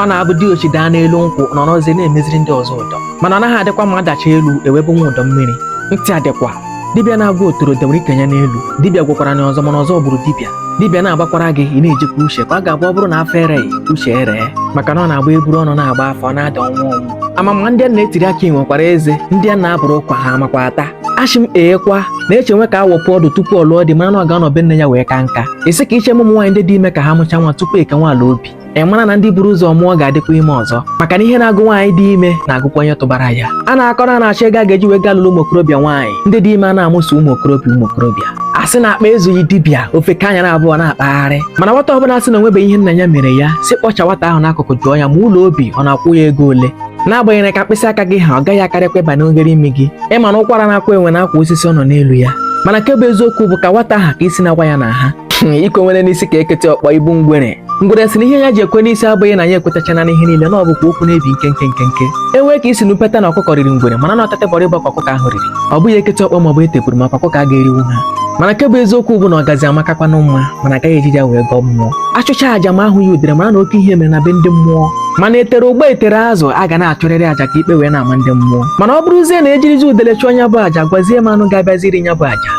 ọ na-abụ di ochi daa n'elu nkwụ nọrọzie na-emeziri ndị ọzọ ụdọ mana ọ naghị adịkwa mma adacha elu ewee bunwe ụdọ mmiri ntị adịkwa dibịa na-agwọ ọtọrọ dewere ike ya n'elu dibịa gwọkwaranụ ọzọ mana ọzọ gburu dibịa dibịa na-agbakwara gị ị na-ejikwa uche ka ọ ga-abụ ọ bụrụ na afa ereghị uche eree maka na ọ na-abụ eburu ọnụ na-agba afa ọ na-ada ọnwụ ọnwụ a ma ma ndị a na-etiri akị nwekwara eze ndị a na-abụrụ ụkwa ha makwa ata asị m eekwa na-echenwe ka awọ puo ọdụ tupu ọ lụọ di mara na ọ ga-anọ be nne ya wee kaa nka a sị ka e chee ụmụ nwaanyị ndị dị ime ka ha mụcha nwa tupu ekenwa ala obi ị mara na ndị buru ụzọ mụọ ga-adịkwa ime ọzọ maka na ihe na-agụ nwaanyị dị ime na-agụkwa onye tụbara ya a na-akọ na a na-achọ ego a ga-eji wee ga lụrụ ụmụ okorobịa nwaanyị ndị dị ime a na-amụso ụmụ okorobịa ụmụ okorobịa a sị na akpa ezughị dibịa ofe ka anya na abụọ na-akpagharị mana nwata ọbụla sị na o nwebeghị ihe nna ya meere ya sị kpọcha nwata ahụ n'akụkụ jụọ ya ma ụlọ o bi ọ na-akwụ ya ego ole n'agbanyeghị ka mkpịsị aka gị ha ọ gaghị akarịkwa ịba n'oghere imi gị ị ma na ụkwara na-akwa enwe na-akwa osisi ọ nọ n'elu ya mana nke bụ eziokwu bụ ka nwata ha ka isi na-awa ya na-aha hmm, ikwe nwere n'isi ka ekete ọkpọ ibu ngwere ngwere sị na ihe ya ji ekwe n'isi abụghị na ya ekwetachana n'ihe niile na ọ bụkwa okwu na-ebi nkenke nkenke enwee ka isi nupeta na ọkụkọ riri ngwere mana na ọtata bọrọ ịbụ ọkwa ọkụkọ ahụ riri ọ bụghị ekete ọkpọ maọbụ etepụrụ maka ọkụkọ a ga-eriwu ha mana nke bụ eziokwu bụ na ọgazị amakakwanụ mma mana agaghị eji ya wee gọọ mmụọ achụcha aja ma ahụghị udele mara na oke ihe mere na be ndị mmụọ mana etere ụgba etere azụ a ga na-achụrịrị aja ka ikpe wee na-ama ndị mmụọ mana ọ bụrụzie na ejirizi udele chụọ nya bụ aja gwazie m anụ ga-abịaziri nya bụ aja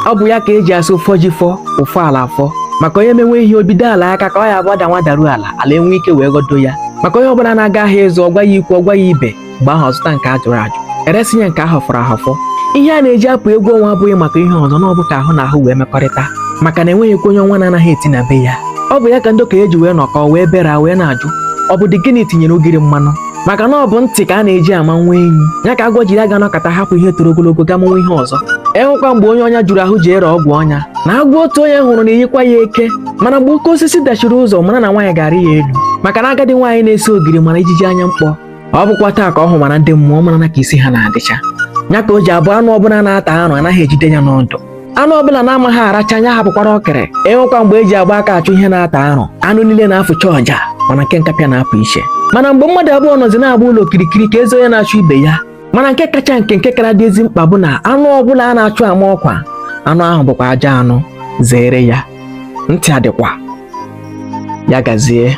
ọ bụ ya ka eji asị ụfọ ji fọ ụfọ ala afọ maka onye menwe ihe o bido ala aka ka ọ ya-abụ ọ danwa daru ala ala enwe ike wee ghọdo ya maka onye ọbụla na-aga ahịa ịzụ ọ gwaghị ikwu ọ gwaghị ibe mgbe ahụ ọ zụta nke a jụrụ ajụ eresi ya nke a họfọrọ ahọfọ ihe a na-eji apụ egwu ọnwa abụghị maka ihe ọzọ na ọ bụ ka ahụ na ahụ wee mekọrịta maka na enweghịkwa onye ọnwa na-anaghị eti na be ya ọ bụ ya ka ndị okenye ji wee nọkọọ wee bere wee na-ajụ ọ bụdị gịnị tinyere ugiri mmanụ maka na ọ bụ ntị ka a na-eji ama nwa enyi ya ka agwọ jiri agaghị anọkata hapụ ihe toro ogologo ga mụnwa ihe ọzọ enwekwa mgbe onye ọnya juru ahụ ji ere ọgwụ ọnya na agwọ otu onye hụrụ na-eyikwa ya eke mana mgbe oke osisi dachiri ụzọ mara na nwaanyị ga-arị ya elu maka na agadi nwaanyị na-esi ogiri mara ijiji anya mkpọ ọ bụkwa taa ka ọ hụmara ndị mmụọ mara na ka isi ha na-adịcha ya ka o ji abụ anụ ọbụla na-ata arụ anaghị ejide ya n'ọdụ anụ ọbụla na-amaghị aracha anya hapụkwara ọkere enwekwa mgbe eji agba aka achụ ihe na-ata arụ anụ niile na-afụcha ọja mana nke nkapịa na-apụ iche mana mgbe mmadụ abụọ nọzi na-agba ụlọ okirikiri kaazi onye na-achụ ibe ya mana nke kacha nke nke kara dị ezi mkpa bụ na anụ ọbụla a na-achụ ama ọkwa anụ ahụ bụkwa ajọ anụ zere ya ntị adịkwa ya gazie